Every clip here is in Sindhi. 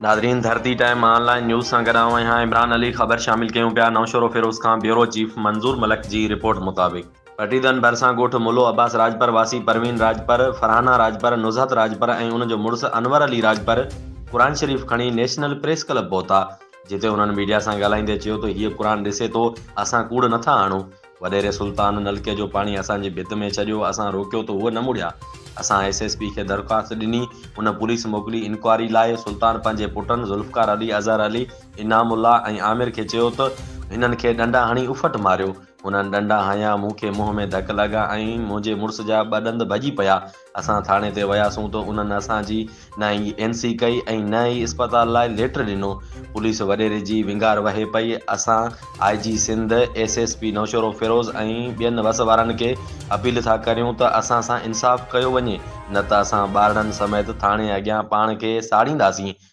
ناظرين Dharti time online news سان گڏ آئون آهيان عمران علي خبر شامل ڪيون پيا نوشهروفيروز کان بيورو چيف منظور ملڪ جي رپورٽ مطابق پٽيدن ڀرسان ڳوٺ ملو عباس راڄپر واسي پروين راڄپر، فرحانه راڄپر، نزهت راڄپر ۽ ان جو مڙس انور علي راڄپر قرآن شريف کڻي نيشنل پريس ڪلب پهتا جتي انهن ميڊيا سان ڳالهائيندي چيو ته هيء قرآن ڏسي ٿو اسان ڪوڙ نٿا آڻون وڏيري سلطان نلڪي جو پاڻي اسان جي ڀت ۾ ڇڏيو، اسان روڪيو ته هو نه مڙيا. اسان ايس ايس پي کي درخواست ڏني، ان پوليس موڪلي انڪوائري لاء. سلطان پنهنجي پٽن ذوالفقار علي، اظهر علي، انعام الله ۽ عامر کي چيو ته هنن کي ڏنڊا هڻي اڦٽ ماريو. هنن ڏنڊا هنيا، مون کي منهن ۾ ڌڪ لڳا ۽ منهنجي مڙس جا ٻه ڏند ڀڄي پيا. اسان ٿاڻي تي وياسون ته انهن اسان جي نه ئي اين سي ڪئي ۽ نه ئي اسپتال لاء ليٽر ڏنو. پوليس وڏيري جي وينگار وهي پئي. اسان I G Sindh, S S P Naushahro Feroze ۽ ٻين وس وارن کي اپيل ٿا ڪريون ته اسان سان انصاف ڪيو وڃي نه ته اسان ٻارڙن سميت ٿاڻي اڳيان پاڻ کي ساڙينداسين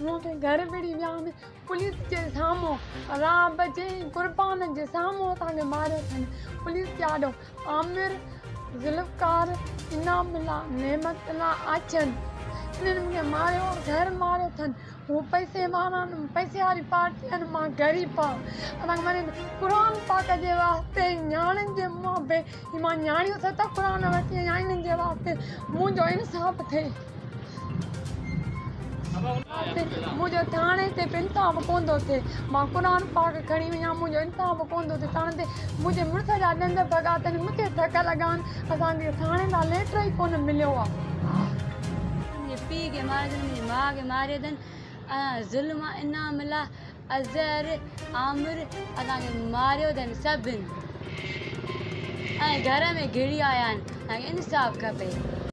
مون کي گهر وڙهي ويا آهن پوليس جي سامهون را بجي قربان جي سامهون اسان کي ماريو اٿن پوليس جي آڏو عامر ذوالفقار انعام الله نعمت الله آڇين انهن مون کي ماريو آهي گهر ماريو اٿن هو پئسي وارا آهن پئسي واري پارٽي آهن مان غريب آهيان اسان کي ماري قرآن پاڪ جي واسطي نياڻين جي منهن به مان نياڻيون ست قرآن ورتيون آهن انهن جي واسطي منهنجو انصاف ٿئي منهنجو ٿاڻي تي به انتاب ڪوندو ٿئي مان قرآن پاڪ کڻي ويا منهنجو انتاب ڪوندو ٿئي ٿاڻي تي منهنجي مڙس جا ڏند ڀڳا اٿن مون کي ڌڪ لڳا آهن اسان کي ٿاڻي مان ليٽر ئي ڪونه مليو آهي منهنجي پيء کي ماريو اٿن منهنجي ماء کي ماريو اٿن ۽ ظلم انعام الله اظهر عامر اسان کي ماريو اٿن سڀن ۽ گهر ۾ گهڙي آيا آهن اسان کي انصاف کپي